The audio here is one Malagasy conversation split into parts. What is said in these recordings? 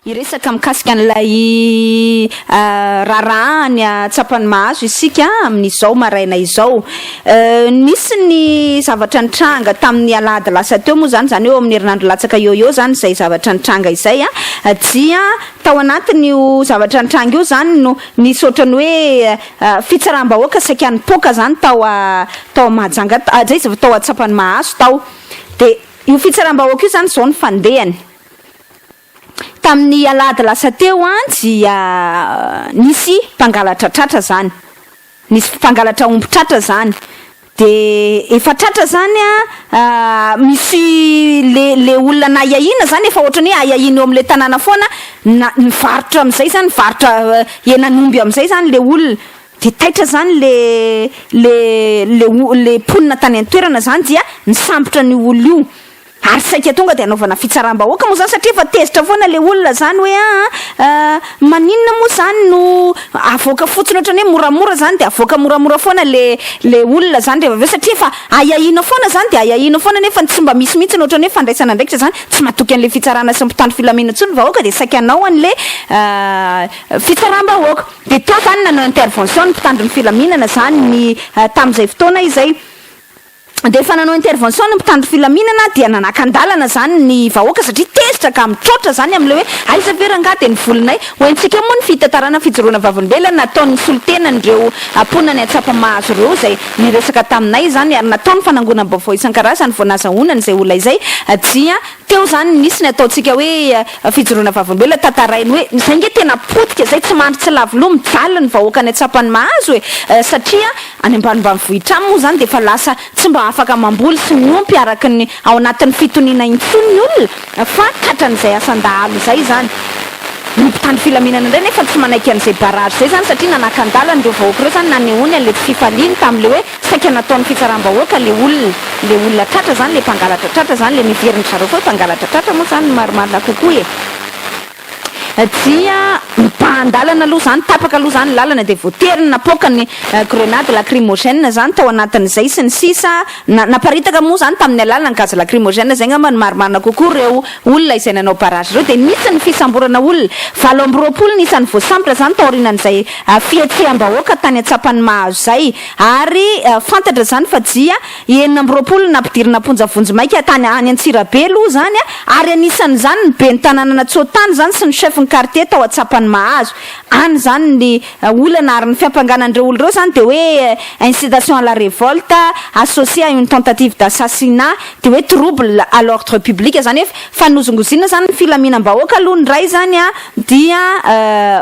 Hiresaka mikasika an'ilay ah, raharaha ny atsapany mahazo isika amin'izao maraina izao. Eh, Nisy ny zavatra nitranga tamin'ny alahady lasa teo moa izany, izany eo amin'ny herinandro latsaka eo eo izany izay zavatra nitranga izay. ah. Dia tao anatin'io zavatra nitranga io izany no Nisy ohatran'ny hoe fitsaram-bahoaka saika nipoaka izany tao tao Mahajanga tao, izay izy vao tao an-tsapan'i Mahazo tao. Dia io fitsaram-bahoaka io izany izao no fandehany. Tamin'ny alahady lasa teo dia nisy mpangalatra tratra izany, nisy mpangalatra omby tratra izany. Dia efa tratra izany an, misy le le olona nahiahiana izany efa ohatrany hoe ahiahiana eo amin'ilay tanàna foana na nivarotra amin'izay izany mivarotra henan'omby amin'izay izany le olona dia taitra izany le le le le mponina tany an-toerana izany dia nisambotra an'io olona io. Ary saika tonga dia anaovana fitsaram-bahoaka moa izany satria efa tezitra foana ilay olona izany hoe aa aa maninona moa izany no avoaka fotsiny ohatrany hoe moramora izany dia avoaka moramora foana ilay ilay olona izany rehefa avy eo satria efa ahiahiana foana izany dia ahiahiana foana nefa ny tsy mba misy mihitsy ohatrany hoe fandraisana andraikitra izany tsy matoky an'ilay fitsarana sy mpitandro filaminana intsony ny vahoaka dia saika hanao an'ilay aa fitsaram-bahoaka dia teo izany nanao intervention ny mpitandro ny filaminana izany ny tamin'izay fotoana izay. Dia efa nanao intervention ny mpitandro filaminana dia nanakan-dalana zany ny vahoaka satria tezitra ka mitroatra zany amin'ilay hoe aiza ve rangah dia ny volinay? Ho haintsika moa ny fitantarana fijoroana vavolombelona nataon'ny solontenan'ireo mponan'i Antsapamahazo ireo izay niresaka taminay izany ary natao ny fanangonam-baovao isan-karazany vao nazahoana izay olona izay dia teo izany nisy ny ataontsika hoe fijoroana vavolombelona tantarainy hoe izay nge tena potika izay tsy mandry tsy lavo loha mijaly ny vahoakan'i Antsapanimahazo e satria Any ambanivanivohitra any moa izany dia efa lasa tsy mba afaka mamboly sy miompy araka ny ao anatin'ny fitoniana intsony ny olona fa tratran'izay asan-dahalo izay izany. Ny mpitandro filaminana indray nefa tsy manaiky an'izay barrage izay izany satria nanakan-dalana ireo vahoaka ireo izany nanehoany an'ilay tsy fifaliany tamin'ilay hoe saika nataon'ny fitsaram-bahoaka ilay olona. Ilay olona tratra izany ilay mpangalatra tratra izany ilay niheverin-dry zareo fa hoe mpangalatra tratra moa izany ny marimarina kokoa e! Dia mibahan-dalana aloha izany, tapaka aloha izany ny lalana dia voatery ny napoaka ny grenade lacrymogène izany tao anatin'izay sy ny sisa Na, naparitaka moa izany tamin'ny alalan'ny gaz lacrymogène, izay angamba no marimarina kokoa, ireo olona izay nanao barrage ireo. Dia nisy ny fisamborana olona, valo amby roapolo ny isan'ny voasambotra izany taorianan'izay fihetseham-bahoaka tany an-tsapan'i Mahazo izay. Ary fantatra izany fa dia. I enina amby roapolo nampidirina am-ponja vonjimaika tany any Antsirabe aloha izany ary anisan'izany ny ben'ny tanànan'Antsoatany izany sy ny chef ny quartier tao Antsapany mahazo any izany ny olana ary ny fiampangana an'ireo olona ireo izany dia hoe incitation à la révolte associée à une tentative d'assassinat dia hoe trouble à l'ordre public izany hoe fanozongozina izany ny filaminam-bahoaka aloha ny iray izany a, dia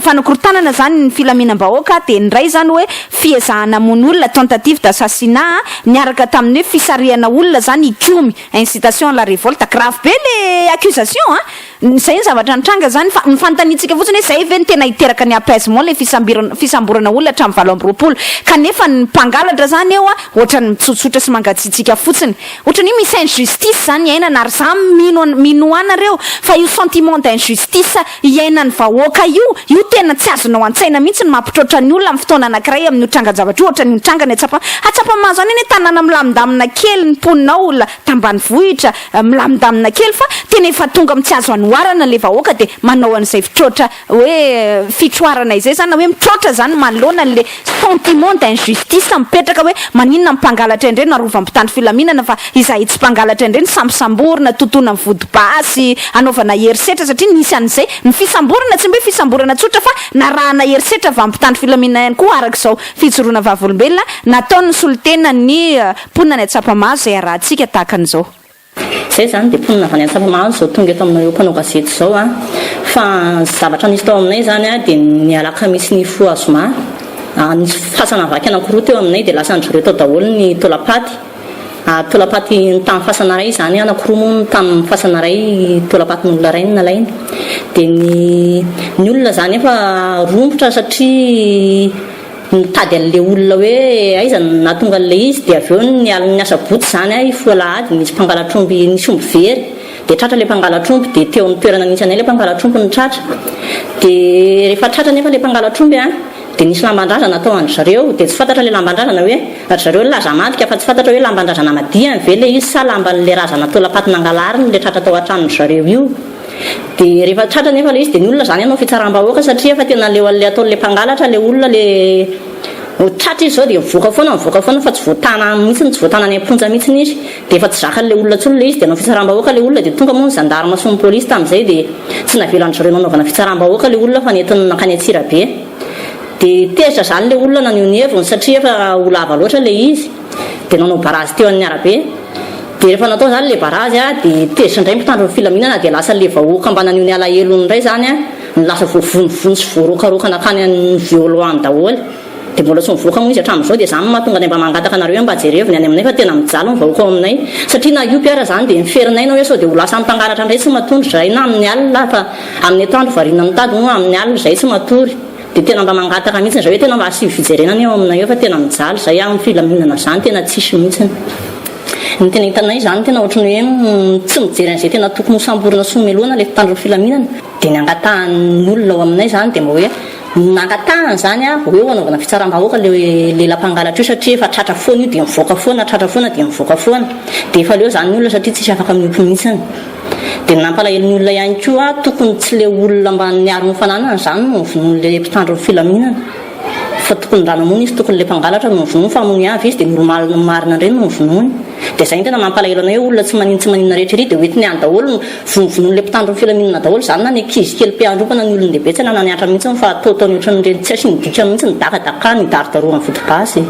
fanakorontanana izany ny filaminam-bahoaka, dia ny iray izany hoe fiezahana hamono olona, tentative d'assassinat, niaraka tamin'ny hoe fisarihana olona izany hikomy, incitation à la révolte, grave be ilay accusation a! izay ny zavatra nitranga izany fa ny fanontaniantsika fotsiny hoe izay ve no tena hiteraka ny apaisement ilay fisambirana, fisamborana olona hatramin'ny valo amby roapolo, kanefa ny mpangalatra izany eo a, ohatran'ny mitsotsotra sy mangatsiatsiaka fotsiny. Ohatran'ny hoe misy injustice zany iainana ary za mino mino anareo fa io sentiment d'injustice iainan'ny vahoaka io, io tena tsy azonao an-tsaina mihitsy ny mampitroatra ny olona amin'ny fotoana anankiray amin'io trangan-javatra io ohatran'io nitranga ny atsapa atsapa-maha zany anie tanàna milamindamina kely ny mponina ao la tambanivohitra milamindamina kely fa tena efa tonga amin'ny tsy azo anoharana le vahoaka dia manao an'izay fitroatra hoe fitroarana izay zany na hoe mitroatra zany manoloana anle sentiment d'injustice mipetraka hoe maninona ny mpangalatra indray no arovany mpitandro filaminana fa izahay tsy mpangalatra indray no sambosamborina totoina ny vody basy anaovana herisetra satria nisy anizay ny fisamborana tsy mba hoe fisamborana tsotra fa narahana herisetra avy aminy mpitandro filaminana ihany koa araka izao fijoroana vavolombelona nataony ny solontenan'ny mponina any Atsapamahazo izay arahantsika tahaka an'izao. Izay izany dia mponina avy any Antsapamahazo izao tonga eto aminao eo mpanao gazety izao an! Fa ny zavatra nisy tao aminay izany an dia ny alakamisy nifoha zoma an nisy fasana vaky anankiroa teo aminay dia lasan-dry zareo tao daholo ny taolam-paty ary taolam-paty ny tany fasana iray izany anankiroa moa ny tany fasana iray taolam-patin'olona iray no nalaina dia ny ny olona izany efa romotra satria Nitady an'ilay olona hoe aiza no nahatonga an'ilay izy dia avy eo ny alin'ny asabotsy izany a, hifoha alahady nisy mpangalatr'omby nisy omby very dia tratra ilay mpangalatr'omby dia teo amin'ny toerana nisy anay ilay mpangalatr'omby no tratra dia rehefa tratra nefa ilay mpangalatr'omby a dia nisy lamban-drazana tao an-dry zareo dia tsy fantatra ilay lamban-drazana hoe ry zareo laza amadika fa tsy fantatra hoe lamban-drazana amadihany ve ilay izy sa lamban'ilay razana taolam-paty nangalariny ilay tratra tao an-tranon-dry zareo io. Dia rehefa tratra anefa ilay izy dia ny olona izany hanao fitsaram-bahoaka satria efa tena leo an'ilay ataon'ilay mpangalatra ilay olona le vao tratra izy izao dia mivoaka foana mivoaka foana fa tsy voatana any mihitsy tsy voatana any am-ponja mihitsy izy dia efa tsy zakan'ilay olona intsony ilay izy dia hanao fitsaram-bahoaka ilay olona dia tonga moa ny zandarma sy ny polisy tamin'izay dia tsy navelan'izy ireo nanaovana fitsaram-bahoaka ilay olona fa nentiny nankany Antsirabe dia tezitra izany ilay olona naneho ny heviny satria efa ho lava loatra ilay izy dia nanao barazy teo an'ny arabe dia rehefa natao izany ilay barazy a dia tezitra indray ny mpitandro ny filaminana dia lasa ilay vahoaka mba naneho ny alahelony indray izany a no lasa voavonivony sy voarokaroka nankany an'ny violoany daholo dia mbola tsy mivoaka moa izy hatramin'izao dia izany no mahatonga anay mba mangataka anareo hoe mba jereo ny any aminay fa tena mijaly ny vahoaka ao aminay satria na io PR izany dia miferinay na hoe sao dia ho lasan'ny mpangalatra indray tsy matory izahay na amin'ny alina fa amin'ny atoandro variana mitady moa amin'ny alina izahay tsy matory Dia tena mba mangataka mihitsiny izay hoe tena mba asio fijerena anie eo aminay eo fa tena mijaly izay amin'ny filaminana izany tena tsisy mihitsiny. Ny tena hitanay izany tena ohatran'ny hoe mm, tsy mijery an'izay tena tokony ho samborina sy homelohana ilay mpitandro ny filaminana. Dia ny angatahan'ny olona ao aminay izany dia mba hoe nangatahana izany hoe ho eo hanaovana fitsaram-bahoaka ilay lela mpangalatra io satria efa tratra foana io dia mivoaka foana, tratra foana dia mivoaka foana. Dia efa leo izany ny olona satria tsisy afaka miompy mihitsiny. Dia ny nampalahelo ny olona ihany koa, tokony tsy ilay olona mba niaro ny fananany izany no novonoin'ilay mpitandro ny filaminana, fa tokony raha namono izy tokony ilay mpangalatra no novonoiny, fa hamono avy izy dia normal ny marina indray no novonoiny. Dia izay no tena mampalahelo anay hoe olona tsy maninona tsy maninona rehetra ery dia hoentiny any daholo no vonovonoin'ilay mpitandro ny filaminana daholo izany na ny ankizy kely mpiandroba na ny olon-dehibe tsy nananihatra mihitsy fa ataotaony ohatran'ireny tsy asin'ny dikany mihitsy ny dakadakany, hidarodaroany vodigasy.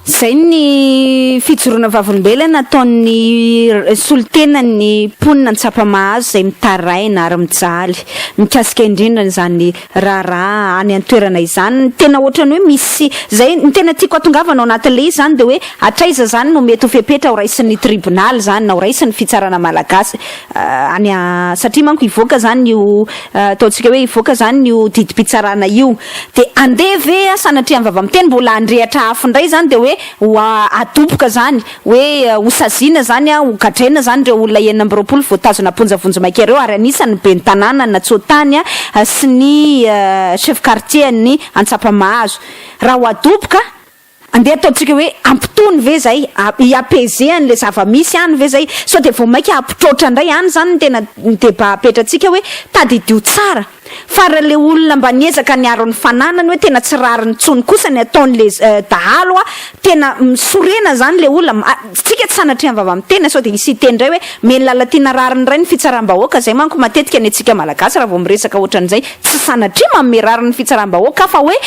Izay ny fijoroana vavolombelona ataon'ny solontenan'ny mponina Antsapamahazo izay mitaraina ary mijaly mikasika indrindra an'izany raharaha any an-toerana izany. Tena ohatran'ny hoe misy izay, ny tena tiako hatongavana ao anatin'ilay izy izany dia hoe hatraiza izany no mety ho fepetra ho raisin'ny tribonaly izany na ho raisin'ny fitsarana malagasy. any a satria manko hivoaka zany io ataontsika hoe hivoaka zany io didim-pitsarana io de andeha ve a sanatria ny vava miteny mbola handrehatra afo indray zany de hoe ho a adoboka zany hoe ho saziana zany a ho gadraina zany ireo olona enina amby roapolo voatazona am-ponja vonjimaika ireo ary anisany ny ben'ny tanàna an'Antsoatany a sy ny chef quartier an'ny Antsapamahazo raha ho adoboka Andeha ataontsika hoe ampitony ve zay? I apaiser an'le zava-misy any ve zay? Sao dia vao maika hampitroatra indray? Any izany no tena débat apetratsika hoe tadidio tsara fa raha le olona mba niezaka niaro ny fananany hoe tena tsy rariny intsony kosa ny ataon'le dahalo a! Tena misorena izany le olona. Tsika tsy sanatria mivava amin'ny tena sao dia hisy hiteny indray hoe mely Lalatiana rariny ray ny fitsaram-bahoaka, izay manko matetika ny antsika Malagasy raha vao miresaka ohatran'izay tsy sanatria manome rariny ny fitsaram-bahoaka aho fa hoe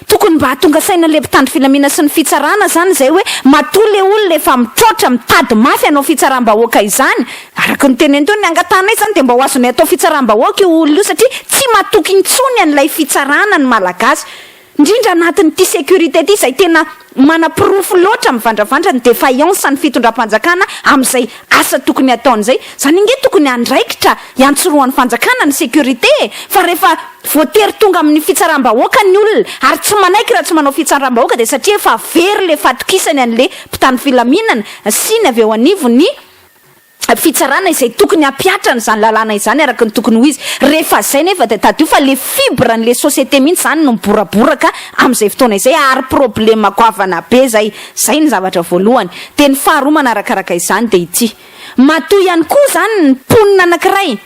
tokony mba hahatonga saina ilay mpitandro filamina sy ny fitsarana izany izay hoe matoa ilay olona efa mitraotra mitady mafy hanao fitsaram-bahoaka izany araka ny tenany teo, ny angatahanay izany dia mba ho azonay atao fitsaram-bahoaka io olona io satria tsy matoky intsony an'ilay fitsarana ny Malagasy. Indrindra anatin'ity sécurité ity izay tena manaporofo loatra mivandravandra ny défaillance ny fitondram-panjakana amin'izay asa tokony hataony izay. Izany ange tokony andraikitra iantsorohan'ny fanjakana ny sécurité e! Fa rehefa voatery tonga amin'ny fitsaram-bahoaka ny olona ary tsy manaiky raha tsy manao fitsaram-bahoaka dia satria efa very ilay fahatokisany an'ilay mpitandro filaminana sy ny avy eo anivon'ny fitsarana izay tokony hampihatra an'izany lalàna izany araka ny tokony ho izy. Rehefa izay nefa dia tadidio fa ilay fibre an'ilay société mihitsy izany no miboraboraka amin'izay fotoana izay ary problème goavana be izay. Izay ny zavatra voalohany. Dia ny faharoa manarakaraka izany dia ity. Matoa ihany koa izany ny mponina anankiray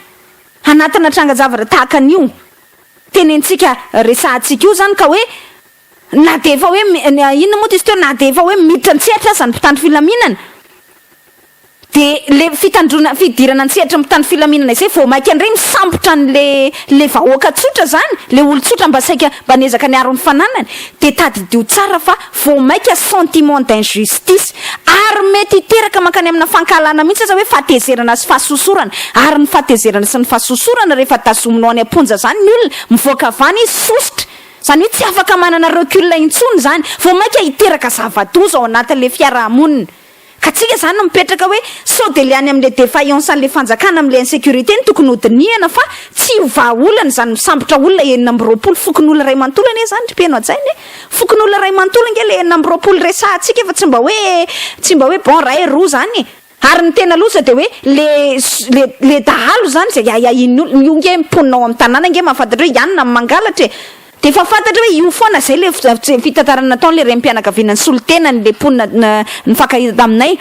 anatina trangan-javatra tahaka an'io tenentsika, resahantsika io izany ka hoe, Na dia efa hoe inona moa izy teo, na dia efa hoe miditra an-tsehatra aza ny mpitandro filaminana, dia ilay fitandroana, fidirana an-tsehatry ny mpitandro filaminana izay, vao mainka indray misambotra an'ilay vahoaka tsotra izany, ilay olon-tsotra mba saika, mba niezaka niaro ny fananany. Dia tadidio tsara fa vao mainka sentiment d'injustice, ary mety hiteraka mankany amina fankahalana mihitsy aza hoe fahatezerana sy fahasosorana. Ary ny fahatezerana sy ny fahasosorana rehefa tazominao any am-ponja izany ny olona, mivoaka avy any izy, sosotra, Izany hoe tsy afaka manana recul intsony izany, vao mainka hiteraka zava-doza ao anatin'ilay fiaraha-monina. Ka tsika izany no mipetraka hoe sao dia ilay any amin'ilay defaillance an'ilay fanjakana amin'ilay insecurité no tokony hodinihana fa tsy ho vahaolana izany misambotra olona enina amby roapolo fokonolona iray manontolo anie izany ry mpeno hajaina e! Fokonolona iray manontolo ange ilay enina amby roapolo resahantsika fa tsy mba hoe tsy mba hoe bon iray roa izany e! Ary ny tena loza dia hoe le le le dahalo izany izay ahiahian'ny olona, io nge mponina ao amin'ny tanàna nge mahafantatra hoe ianona no mangalatra e! Dia efa fantatra hoe io foana izay le fitantarana nataon'ilay renim-pianakaviana nisolo tena an'ilay mponina nifankahita taminay.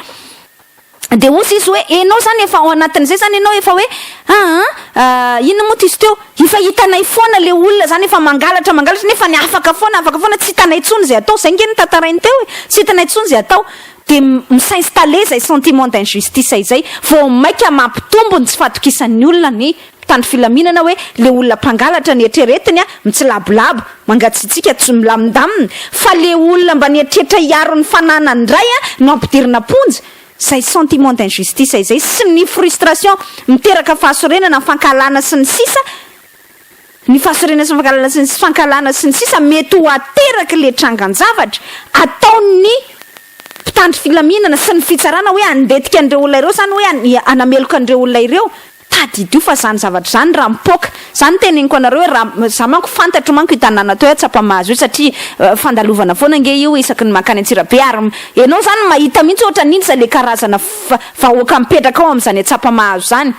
Dia hozy izy hoe enao izany efa ao anatin'izay izany enao efa hoe aa inona moa tizo teo efa hitanay foana le olona izany efa mangalatra mangalatra nefa ny afaka foana afaka foana tsy hitanay intsony izay atao izay nge no tantarainy teo e! tsy hitanay intsony izay atao dia mi-s'installer izay sentiment d'injustice izay, vao mainka mampitombo ny tsy fahatokisan'ny olona ny mpitandro filaminana hoe ilay olona mpangalatra ny eritreretiny an, mitsilabolabo, mangatsiatsiaka, tsy milamindamina, fa ilay olona mba nieritreritra hiaro ny fananany indray an no ampidirina am-ponja, izay sentiment d'injustice izay sy ny frustration miteraka fahasorenana, fankahalana sy ny sisa, ny fahasahiranana sy ny fankahalana sy ny fankahalana sy ny sisa mety ho ateraky le trangan-javatra ataon'ny mpitandro filaminana sy ny fitsarana hoe handetika an'ireo olona ireo zany hoe hanameloka an'ireo olona ireo tadidio fa zany zavatra zany raha mipoaka zany ny teneniko anareo hoe raha za manko fantatro manko i tanàna toy Tsapamahazo io satria fandalovana foana ange io isaky ny mankany Antsirabe ary ianao zany mahita mihitsy ohatra ny inona izay le karazana vahoaka mipetraka ao amin'izany Tsapamahazo zany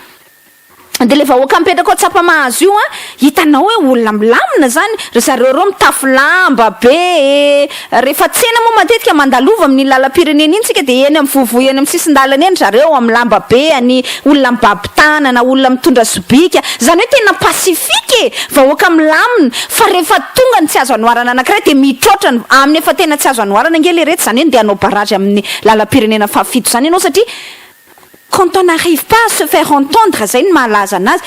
Dia ilay vahoaka mipetraka ao Tsapamahazo io an, hitanao hoe olona milamina izany, ry zareo ireo mitafy lamba be e! Rehefa tsena moa matetika mandalova amin'ny lalam-pirenena iny isika dia eny amin'ny vovoha eny amin'ny sisin-dalana eny ry zareo amin'ny lamba be any, olona mibaby tanana, olona mitondra sobika, izany hoe tena pacifique e! Vahoaka milamina, fa rehefa tonga ny tsy azo anoharana anankiray dia mitraotra ny amin'ny efa tena tsy azo anoharana ange ilay ireto, izany hoe ndeha hanao barrage amin'ny lalam-pirenena fahafito izany ianao satria Quand on n'arrive pas à se faire entendre zay no mahalaza anazy.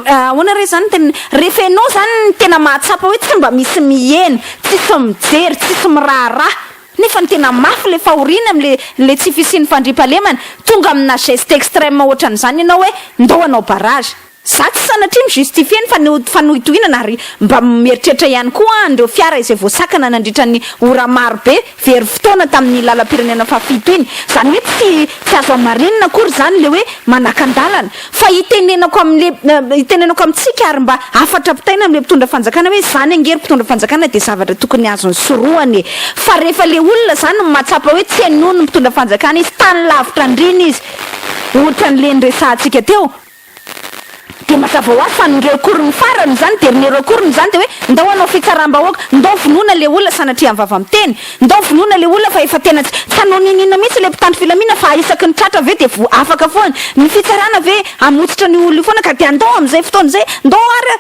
Ahoana re zany ny teniny? Rehefa ianao zany no tena mahatsapa hoe tsy mba misy miheno, tsisy mijery, tsisy miraharaha, nefa ny tena mafy ilay fahoriana amin'ilay ilay tsy fisian'ny fandriampahalemana, tonga amina geste extrême ohatran'izany ianao hoe ndao hanao barrage. Za tsy sanatria mi justifier ny fanohitohinana ary mba mieritreritra ihany koa aho an'ireo fiara izay voasakana nandritra ny ora maro be very fotoana tamin'ny lalam-pirenena fahafito iny. Izany hoe tsy tsy azo hamarinina akory izany ilay hoe manakan-dalana. Fa hitenenako amin'ilay hitenenako amintsika ary mba hafatra pitaina amin'ilay mpitondra fanjakana hoe izany ange ry mpitondra fanjakana dia zavatra tokony azony sorohana e. Fa rehefa ilay olona izany no mahatsapa hoe tsy henoin'ny mpitondra fanjakana izy, tany lavitra andriana izy, ohatran'ilay niresahantsika teo, Dia mazava ho azy fa ny recours-ny farany izany, dernier recours-ny izany dia hoe ndao hanao fitsaram-bahoaka, ndao vonoina ilay olona sanatria am-vava miteny, ndao vonoina ilay olona fa efa tena tsy tsy hanao n'inon'inona mihitsy ilay mpitandro filaminana fa isaky ny tratra ve dia vo afaka foana ny fitsarana ve hamotsitra an'io olona io foana ka dia ndao amin'izay fotoana izay ndao ary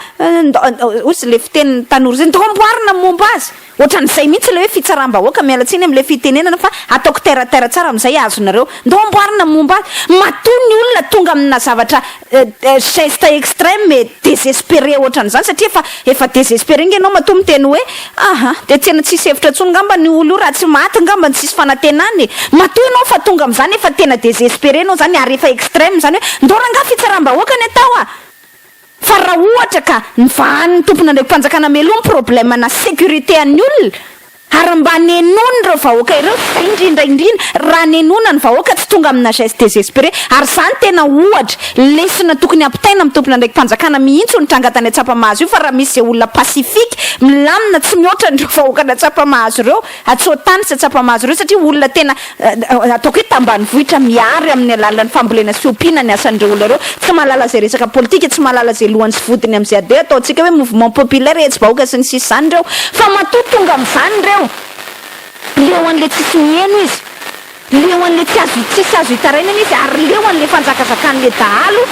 ndao, hoy ilay fitenin'ny tanora izay, ndao amboarina ny momba azy. Ohatran'izay mihitsy ilay hoe fitsaram-bahoaka, miala tsiny amin'ilay fitenenana fa ataoko terre à terre tsara amin'izay azonareo. Ndao amboarina momba azy. Matoa ny olona tonga amina zavatra geste extreme et desespere ohatran'izany satria efa efa desespere nge ianao matoa miteny hoe aha dia tena tsisy hevitra intsony ngambany io olona io raha tsy maty ngambany tsisy fanatenana e. Matoa ianao efa tonga amin'izany efa tena desespere ianao izany ary efa extreme izany hoe ndao rangah fitsaram-bahoaka ny atao a! Fa raha ohatra ka nivahanin'ny tompon'andriakim-panjakana meloa ny problème na sécurité an'ny olona ary mba nenoiny ireo vahoaka ireo fa indrindra indrindra raha nenoina ny vahoaka tsy tonga amina geste désespéré ary zany tena ohatra lesona tokony ampitaina amin'ny tompon'andraikim-panjakana mihitsy io nitranga tany Atsapamahazo io fa raha misy izay olona pacifique milamina tsy mihoatra an'ireo vahoakan'Atsapamahazo ireo Atsoa-tany sy atsapa-mahazo ireo satria olona tena ataoko hoe tambanivohitra miary amin'ny alalan'ny fambolena sy ompiana ny asan'ireo olona ireo. Tsy mahalala izay resaka politika, tsy mahalala izay lohany sy vodiny amin'izay ade ataontsika hoe mouvement populaire, hetsi-bahoaka sy ny sisa izany ireo fa matoa tonga amin'izany ireo dia eo an'ilay tsisy miheno izy. Leo an'ilay tsy azo tsy tsy azo hitarainana izy ary leo an'ilay fanjakazakan'ilay dahalo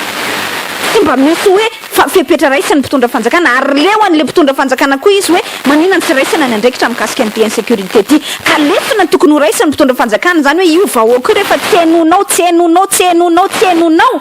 tsy mba misy hoe fa fepetra raisin'ny mpitondra fanjakana ary leo an'ilay mpitondra fanjakana koa izy hoe manina ny tsy raisana ny andraikitra mikasika an'ity insécurité ity ka lesona ny tokony ho raisin'ny mpitondra fanjakana izany hoe io vahoaka io rehefa tsy hainoanao tsy hainoanao tsy hainoanao tsy hainoanao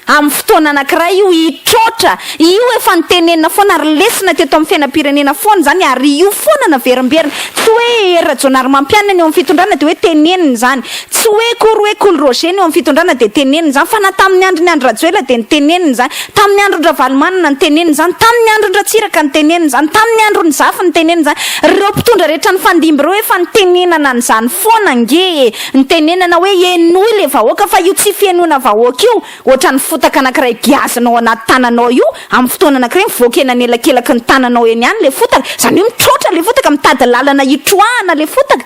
Amin'ny fotoana anankiray io hitroatra, io efa notenenina foana ary lesona teto amin'ny fiainam-pirenena foana izany ary io foana naverimberina. Tsy hoe Hery Rajaonarimampianina ny eo amin'ny fitondrana dia hoe tenenina izany. Tsy hoe akory hoe Kolo Roger ny eo amin'ny fitondrana dia tenenina izany fa na tamin'ny andron'i Andry Rajoelina dia notenenina izany, tamin'ny andron-dRavalomanana notenenina izany, tamin'ny andron-dRatsiraka notenenina izany, tamin'ny andron'i Zafy notenenina izany. Ireo mpitondra rehetra nifandimby ireo efa nitenenana an'izany foana ange e! Nitenenana hoe henoy ilay vahoaka fa io tsy fihenoana vahoaka io, ohatran'ny fotaka anankiray giazina ao anaty tananao io, amin'ny fotoana anankiray mivoaka eny anelakelaky ny tananao eny ihany ilay fotaka, izany hoe mitroatra ilay fotaka, mitady lalana hitroahana ilay fotaka.